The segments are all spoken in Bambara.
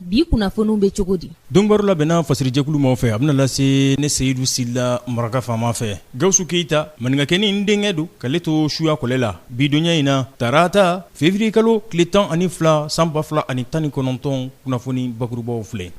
bi kunnafoniw bɛ cogo di donbaro labɛnna fasirijɛkulu maaw fɛ a bɛna lase ne seyidu sila maraka faama fɛ gawusu keyita maninkakɛnin denkɛ don k'ale to suya kɔlɛ la bi donya in na tarata feburuyekalo tile tan ani fila san ba fila ani tan ni kɔnɔntɔn kunnafoni bakurubaw filɛ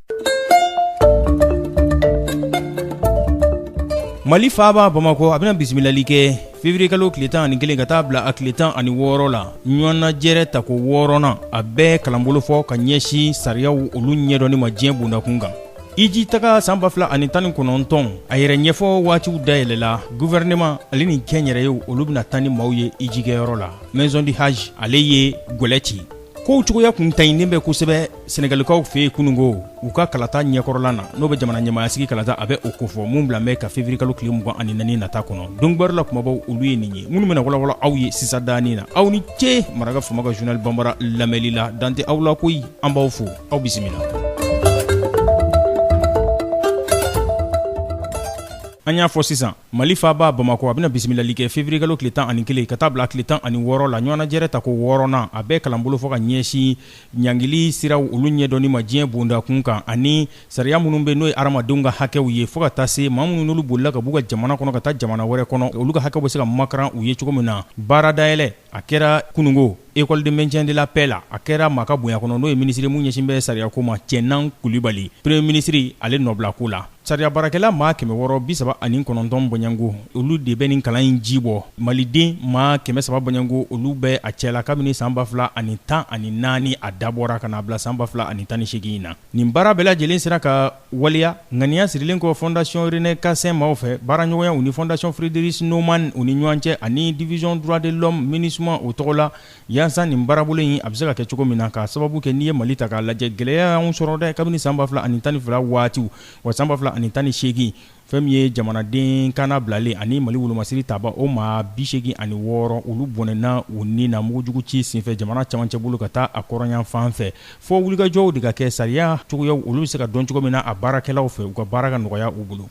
mali faaba bamakɔ a bɛna bisimilali kɛ Feburuyekalo tile tan ni kelen ka taa bila a tile tan ani wɔɔrɔ la ɲɔgɔnnajɛrɛ tako wɔɔrɔnan a bɛ kalanbolo fɔ ka ɲɛsin sariyaw olu ɲɛdɔnni ma diɲɛ bondakun kan iji taga san ba fila ani tan ni kɔnɔntɔn a yɛrɛ ɲɛfɔ waatiw dayɛlɛla gouvernement ale ni kɛnyɛrɛyew olu bɛna taa ni maaw ye ijikɛyɔrɔ la maison du hadj ale ye gɛlɛ ci Kow cogoya kun taɲinen bɛ kosɛbɛ Senegalikaw fɛ yen kununko u ka kalata ɲɛkɔrɔla na n'o bɛ jamana ɲɛmaayasigi kalata a bɛ o kofɔ min bila bɛ ka feburuyekalo tile mugan ani naani nata kɔnɔ donbaro la kumabaw olu ye nin ye minnu bɛna walawala aw ye sisan dani na aw ni ce Maraka Faama ka journal bambara lamɛnli la dan tɛ aw la koyi an b'aw fo aw bisimila an y'a fɔ sisan Mali faaba Bamakɔ a bɛna bisimilali kɛ février kalo tile tan ani kelen ka taa bila tile tan ani wɔɔrɔ la ɲɔgɔnnajɛrɛ tako wɔɔrɔnan a bɛ kalanbolo fɔ ka ɲɛsin ɲangili siraw olu ɲɛdɔnni ma diɲɛ bondakun kan ani sariya minnu bɛ n'o ye hadamadenw ka hakɛw ye fo ka taa se maa minnu n'olu bolila ka b'u ka jamana kɔnɔ ka taa jamana wɛrɛ kɔnɔ olu ka hakɛw bɛ se ka makaran u ye cogo min na baara dayɛlɛ a kɛra kunungo École de maintien de la paix la a kɛra maa ka bonya kɔnɔ n'o ye minisiri min ɲɛsin bɛ sariya ko ma cɛnan kulibali premier ministre ale nɔbila ko la sariya baarakɛla maa kɛmɛ wɔɔrɔ bi saba ani kɔnɔntɔn bɔɲɔgɔnko olu de bɛ nin kalan in ji bɔ maliden maa kɛmɛ saba bɔɲɔgɔnko olu bɛ a cɛla kabini san ba fila ani tan ani naani a dabɔra ka na a bila san ba fila ani tan ni seegin in na nin baara bɛɛ lajɛlen sera ka waleya ŋaniya sirilen kɔ fondation René Cassin maaw fɛ, baaraɲɔgɔnya u ni fondation Friedrich Naumann u ni ɲɔgɔn cɛ ani division droit de l'homme Minusma o tɔgɔ la, yaasa nin baarabolo in a bɛ se ka kɛ cogo min na, k'a sababu kɛ n'i ye Mali ta k'a lajɛ, gɛlɛya y'anw sɔrɔ dɛ, kabini san 2012 waatiw, wa san 2018 fɛn min ye jamanaden kannabilalen ani mali wolomasiri tabaaw maa bi seegin ani wɔɔrɔ olu bɔnɛna u ni na mugujugu ci senfɛ jamana camancɛ bolo ka taa a kɔrɔnyan fan fɛ fo wulikajɔw de ka kɛ sariya cogoyaw olu bɛ se ka dɔn cogo min na a baarakɛlaw fɛ u ka baara ka nɔgɔya u bolo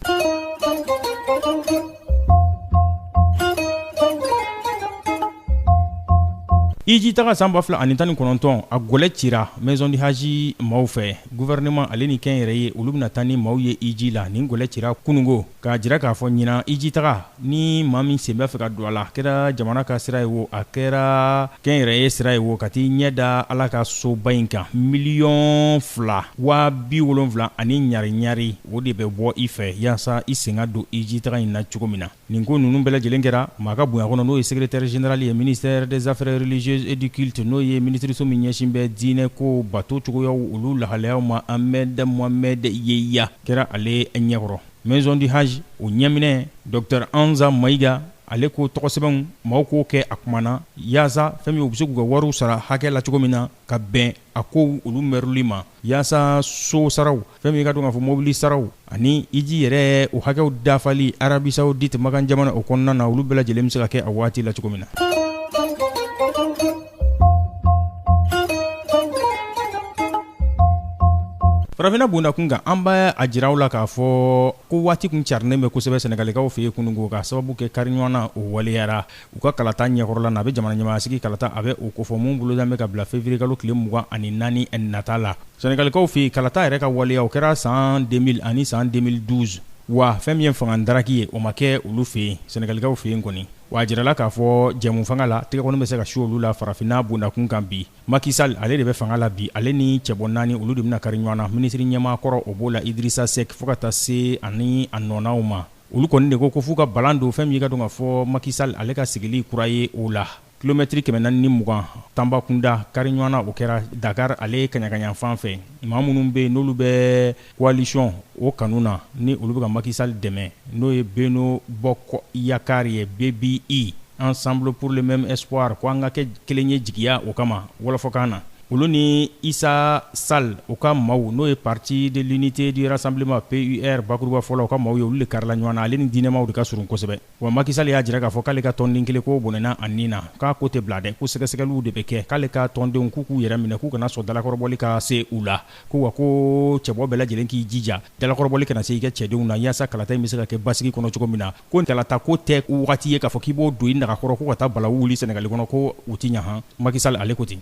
iji taga san 2019 a gɛlɛ cira maison du hadj maaw fɛ Gouvernement ale ni kɛnyɛrɛye olu bɛna taa ni maaw ye hiji la nin gɛlɛ cira kununko k'a jira k'a fɔ ɲinan hiji taga ni maa min sen bɛ fɛ ka don a la a kɛra jamana ka sira ye wo a kɛra kɛnyɛrɛye sira ye wo ka t'i ɲɛ da Ala ka soba in kan miliyɔn fila waa bi wolonwula ani ɲari ɲari o de bɛ bɔ i fɛ yaasa i sen ka don hiji taga in na cogo min na. Nin ko ninnu bɛɛ lajɛlen kɛra maa ka bonya kɔnɔ n'o ye secrétaire général ye ministère des affaires religieuses et du culte n'o ye minisiriso min ɲɛsin bɛ diinɛ kow bato cogoyaw olu lahalayaw ma Ahmed Mohamed Yeya kɛra ale ɲɛkɔrɔ. Maison du Hajj o ɲɛminɛ Docteur Hamza Mayiga ale ko tɔgɔsɛbɛnw maaw k'o kɛ a kuma na yaasa fɛn min u bɛ se k'u ka wariw sara hakɛ la cogo min na, ka bɛn a kow olu mɛrili ma yaasa so saraw fɛn min i ka dɔn k'a fɔ mobili saraw ani hiji yɛrɛ o hakɛw dafali Arabie Saoudite Makan jamana o kɔnɔna na olu bɛɛ lajɛlen bɛ se ka kɛ a waati la cogo min na farafinna bondakun kan an b'a jira aw la k'a fɔ ko waati kun carinnen bɛ kosɛbɛ Senegalikaw fɛ yen kunungo k'a sababu kɛ kari ɲɔgɔn na o waleyara u ka kalata ɲɛkɔrɔla na a bɛ jamana ɲɛmaasigi kalata a bɛ o kofɔ min bolodan bɛ ka bila février kalo tile mugan ani naani nata la Senegalikaw fɛ yen kalata yɛrɛ ka waleya o kɛra san 2000 ani san 2012 wa fɛn min ye fanga daraki ye o ma kɛ olu fɛ yen Senegalikaw fɛ yen kɔni wa a jirala k'a fɔ jɛmu fanga la tɛgɛ kɔni bɛ se ka su olu la farafinna bondakun kan bi Macky Sall ale de bɛ fanga la bi ale ni cɛbɔ naani olu de bɛna kari ɲɔgɔn na minisiri ɲɛmaa kɔrɔ o b'o la Idrissa Seck fo ka taa se ani a nɔnaw ma Olu kɔni de ko ko f'u ka balan don fɛn min ye i ka dɔn k'a fɔ Macky Sall ale ka sigili kura ye o la. Kilomɛtiri kɛmɛ naani ni mugan Tambacounda kari ɲɔgɔn na o kɛra Dakar ale kaɲakayanfan fɛ. Maa minnu bɛ yen n'olu bɛ coalition o kanu na ni olu bɛ ka Macky Sall dɛmɛ n'o ye Benno Bokk Yakaar ye, BBY, Ensemble pour le même espoir ko an ka kɛ kelen ye jigiya o kama, wɔlɔfɔkan na. olu ni Issa Sall u ka maaw n'o ye parti de l'unité du rassemblement PUR bakurubafɔ la u ka maaw ye olu le karila ɲɔgɔn na ale ni diinɛmaw de ka surun kosɛbɛ wa Macky Sall y'a jira k'a fɔ k'ale ka tɔnden kelen k'o bɔnɛna a nin na k'a ko tɛ bila dɛ ko sɛgɛsɛgɛliw de bɛ kɛ k'ale ka tɔndenw k'u k'u yɛrɛ minɛ k'u kana sɔn dalakɔrɔbɔli ka se u la ko wa ko cɛbɔ bɛɛ lajɛlen k'i jija dalakɔrɔbɔli kana se i ka cɛdenw na yaasa kalata in bɛ se ka kɛ basigi kɔnɔ cogo min na ko kalata ko tɛ wagati ye k'a fɔ k'i b'o don i nagakɔrɔ ko ka taa balawu wuli sɛnɛgali kɔnɔ ko u ti ɲa han Macky Sall ale ko ten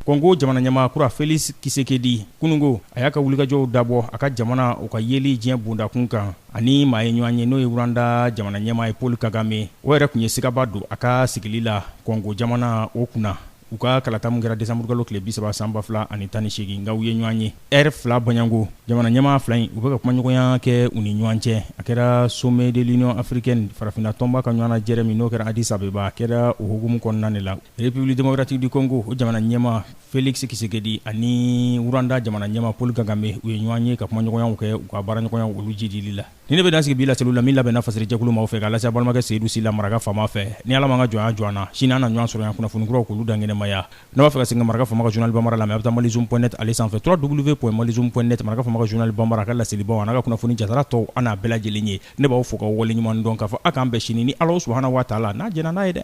kɔngo jamana ɲɛmaa kura Felix Tshisekedi kunungo a y'a ka wulikajɔw dabɔ a ka jamana u ka yeli diɲɛ bondakun kan a ni maa ye ɲɔgɔn ye n'o ye Rwanda jamana ɲɛmaa ye Paul Kagame o yɛrɛ tun ye sigaba don a ka sigili la kɔngo jamana o kunna u ka kalata min kɛra décembre kalo tile 30 san 2018 nka u ye ɲɔgɔn ye heure fila bɔɲɔgɔnko, jamana ɲɛmaa fila in u bɛ ka kumaɲɔgɔnya kɛ u ni ɲɔgɔn cɛ, a kɛra sommet de l'Union africaine farafinna tɔnba ka ɲɔgɔnnajɛrɛ min n'o kɛra Addis Abeba, a kɛra o hukumu kɔnɔna de la. République démocratique du Congo, o jamana ɲɛmaa Felix Tshisekedi ani Rwanda jamana ɲɛmaa Paul Kagame u ye ɲɔgɔn ye ka kumaɲɔgɔnyaw kɛ u ka baaraɲɔgɔnyaw olu jiidili la. ni ne bɛ dan sigi bi laseliw la min labɛnna fasɛrɛjɛkulu maaw fɛ k'a lase balimakɛ seyidu sila maraka faama fɛ ni ala m'an ka jɔnya jɔ an na sini an na ɲɔgɔn sɔrɔ yan kunnafoni kuraw k'olu dankɛnɛmaya n'a b'a fɛ ka segin ka maraka faama ka journal bambara lamɛn a bɛ taa malizoom point net ale sanfɛ www.malizoom.net maraka faama ka journal bambara a ka laselibaw an'a ka kunnafoni jaatara tɔw an'a bɛɛ lajɛlen ye ne b'aw fo k'aw waleɲuman dɔn k'a fɔ a k'an bɛn sini ni Alahu subahana wataala n'a jɛnna n'a ye dɛ